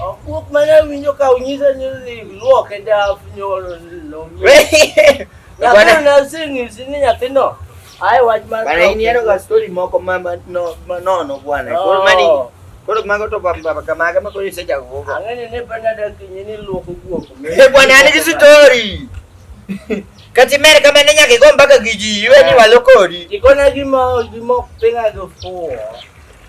Okuok mane awinjo ka unyisa ni luok e daf nyoro lomi. Nyathino ne aseng'isi ni nyathino ae wach mar Bana in yero ga story moko ma ma- no- ma nono bwana. Koro mani Oh. koro mago to baba baba kamaga ma koro iseja gogo. Ang'eni ni penda dakinyi ni luok okuok. Eh bwana an gi story. Kati mere kama ne nyaka igo mpaka gi ji iwe ni walo kodi. Ikona gima gima ok pinga gi fuwo.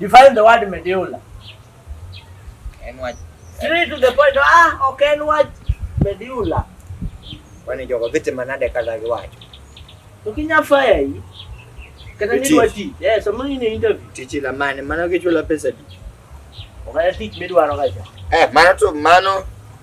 Define the word medulla. En wach. Straight to the point. Ah, ok en wach medulla. Kwani jogo vite manade kala giwacho. To kinya faya hii. Kata ni wati. Eh, somo ni interview. Tichi la mane, mano kichula pesa di. Ogaya tich midwaro kacha. Eh, mano to mano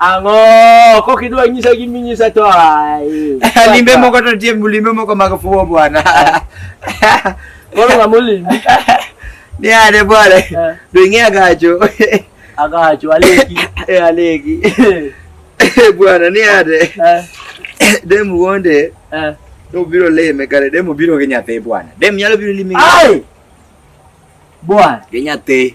Ang'o kok idwa nyisa gi minyisa to ai. Limbe moko to tie limbe moko mag fuwo bwana. Koro ng'ama olimbi. Ni ane bwana. Eh. Do ing'e agacho. Agacho aleki. Eh aleki. Eh, bwana ni ane. Eh. Dem wuonde. Eh. To biro leme kare dem biro gi nyathi bwana. Dem nyalo biro limi. Ai. Bwana. Gi nyathi.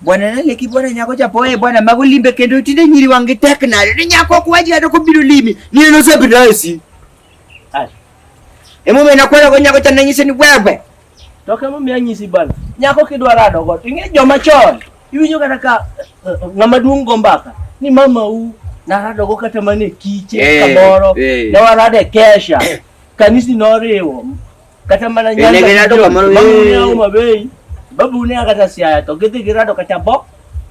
Bwana naleki bwana nyako chapoe bwana mago limbe kendo tinde nyiri wangi tek nade ni nyako kwaji ado kobiro limi ni eno sebi rasi emo mena kwela go nyako chana nyise ni wewe toke mo mi anyisi bana nyako kidwa rado go tinge joma chon iwinyo kata ka eh, eh, ngama duong gombaka ni mama u narado go kata mane kiche hey, eh, kamoro hey. ne warade kesha kanisi noriwo kata mana nyanda negera to kamaro ne uma bei babu ne akata siaya to gidhi girado kata bo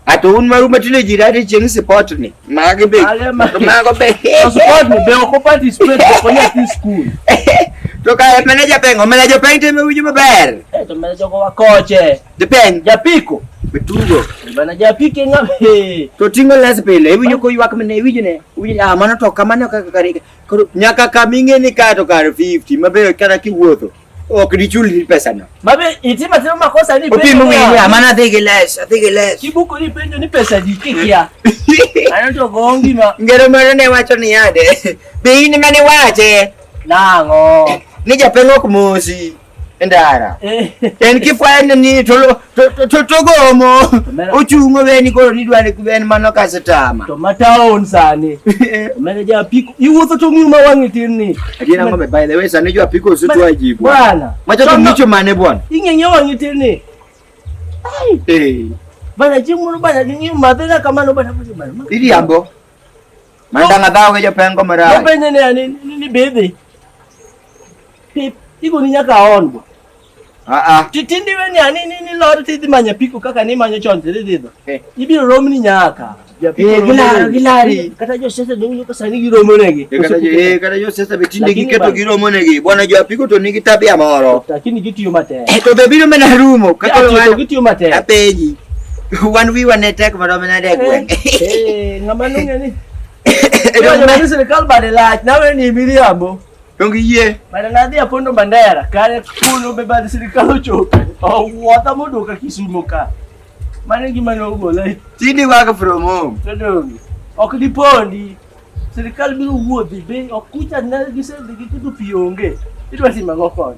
ato un maru matine jirade chieng support ni mage be mago be support ni be ko participate ko nya ti school to ka manager peng o manager peng te me wuju maber eh to manager ko wakoche de peng japiko betugo bana japike ngabe to tingo las pele iwinyo ko ywak mene iwinyo ne iwinyo ah mano to kamano kaka karika Koro nyaka kama ing'e ni kae to kar 50 mabe kata kiwuotho ok dichul pesano. Mabe itima timo makosa ni Opimo ng'eyo ya mana dhi gi les, adhi gi les. Kibuku ni penjo ni pesa di kikia. Ano to gongi ma. Ngero moro ne wacho ni yade. Be in mane wache? Nang'o? Ni japeng' ok mosi. Ndara. Eh. En kifwani ni to to to gomo. Ochungo weni koro ni dwani kuben mano kasetama. To mataon sani. Omene ja piko. Iwuotho to ngiyo ma wangi tin ni. Adiena ngome by the way sani jo piko su to ajibu. Bwana. Macho to nicho mane bwana. Ingenye wangi tin ni. Ai. Eh. Bana jimu bana ngiyo mabena kama no bana bana. Ili ambo. Mandanga dhao ke jopengo mara. Jopenye ne ani ni bebe. Pip igo ni nyaka ongo. Ah ah. Titindi we ni ani ni ni lor ti di manya piko kaka ni manya chonte di di. Eh. Ibi rom ni nyaka. Eh, gilari gilari kata jo sese dong yo kasani gi romo negi eh, kata jo eh kata jo sese be tinde gi keto gi romo negi bwana jo apiko to nigi tabia moro lakini gitiyo matek eh, to be biro mena rumo kaka jo gitiyo matek apeji Wan wiwa ne tek mondo mi nade gweng'. Eh, ng'ama nung'e ni. Ero ma ni sirkal bade lach nawe ni miriambo. Dongi yie. Bade na dhi apondo bandera kare kuno be bade sirkal ochope. Owuotha moduoka Kisumo ka. Mane gima nogola. Tindi waka from home. Todongi. Ok dipondi. Sirkal biro wuodhi be ok kucha na gisedhi gi kudu pi onge. Idwa timo ang'o koni?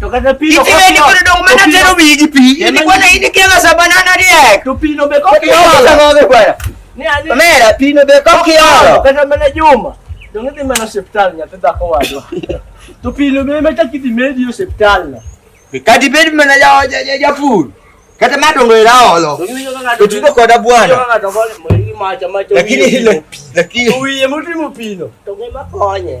To kata pi no Itime ni kono dong mana tero wi gi pi. Ni kwana ini kega sa banana riek. To pi no be kok iolo. Ni ani. Mera pi no be kok iolo. Kata mana Juma. Dong idhi mana hospital nyathi dhako wadwa. To pi no be meta kidhi medi hospital na. Kadi bed mana ja ja ja food. Kata ma dongo ila olo. To tuko koda bwana. Lakini hilo lakini. Uye mtu mupino. To ngema konye.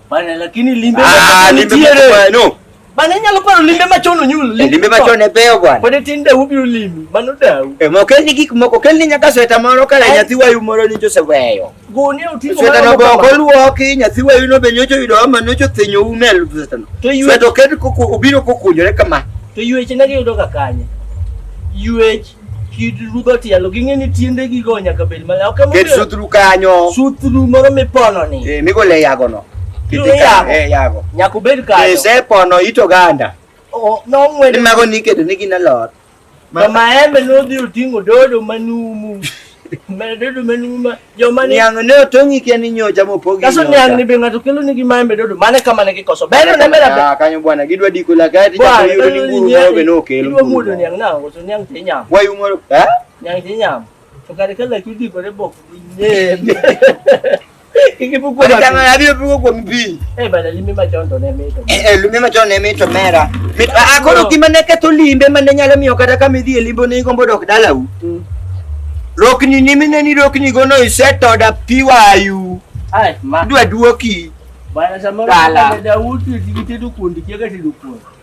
Bana lakini limbe ah, limbe no. Bana nyalo paro limbe machon onyul. Eh, limbe machon e beyo bwana. Pod tin da ubi ulimi, mano dau. E eh, mo kel ni gik moko, kel ni nyaka sweta moro kala eh. nyathi wayu moro ni Joseph weyo. Goni otingo sweta no boko luoki, nyathi wayu no be nyocho yudo ma nyocho thinyo umel sweta no. Sweta kel kuku obiro kukunjore kama. To yueche nagi yudo ka kanye. Yuech kid rudho tielo ging'e ni tiende gigo nyaka bed mala ok ket sutru kanyo sutru moro mipono ni eh migo le yago no kiti ka eh yago nyaka bed kanyo eh se pono ito ganda o no ngwe ni mago ni kedo ni gina lot ma maembe no dhi otingo dodo manumu Dodo umenuma. Jomani yang ne otongi kia ni nyocha mopogi. Kaso nyang ni be ng'ato kelo nigi maembe dodo mane kama ne gikoso. Beno ne mera be. Ah kanyo bwana gidwa diko la kati cha yudo ni buru no be no kelo. Gidwa mudo nyang na ngoso nyang te nyam. Wa yumo eh? Nyang te nyam. To kare kala kudiko re bok. Nye. akoro gima ne ketho limbe mane nyalo miyo kata kama idhi e limbo ne igombo dok dalau mm. rokni ni mineni rokni go no isetoda pi wayu dwa duoki dala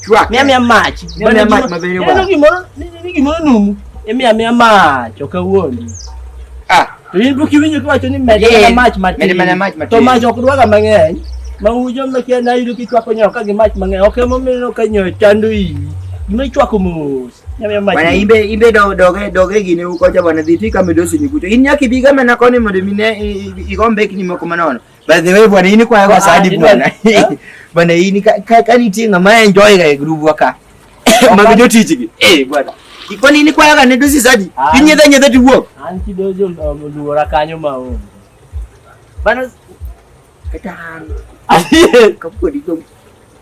Chwak. Mia mia mach. Mia mia mach maber yo. Neno gimoro, neno gimoro numu. Mia mia mach, ok awuondi. Ah, to in buki winjo kiwacho ni med mana mach matin. Med mana mach matin. To mach ok dwaga mang'eny. Ma ujo mekia na yudo kichwako nyo ka gi mach mang'eny. Ok emomiyo ka nyo chando iyi. Gima ichwako mos. Bwana imbe imbe do doge doge gine uko cha bwana dhiti kama dosi nikuto. In nyaki biga mena koni mondo mine igombe kini moko manono. By the way bwana, hii ni kwa kwa sadi bwana. Bwana hii ni kani tinga ma enjoy ga group waka. Mabijo tijiki. Eh bwana. Iko nini kwa ga ne dosi sadi. Kinye da nyeda ti wo. An ki dojo luora kanyo ma o. Bana katan. Kapo di dong.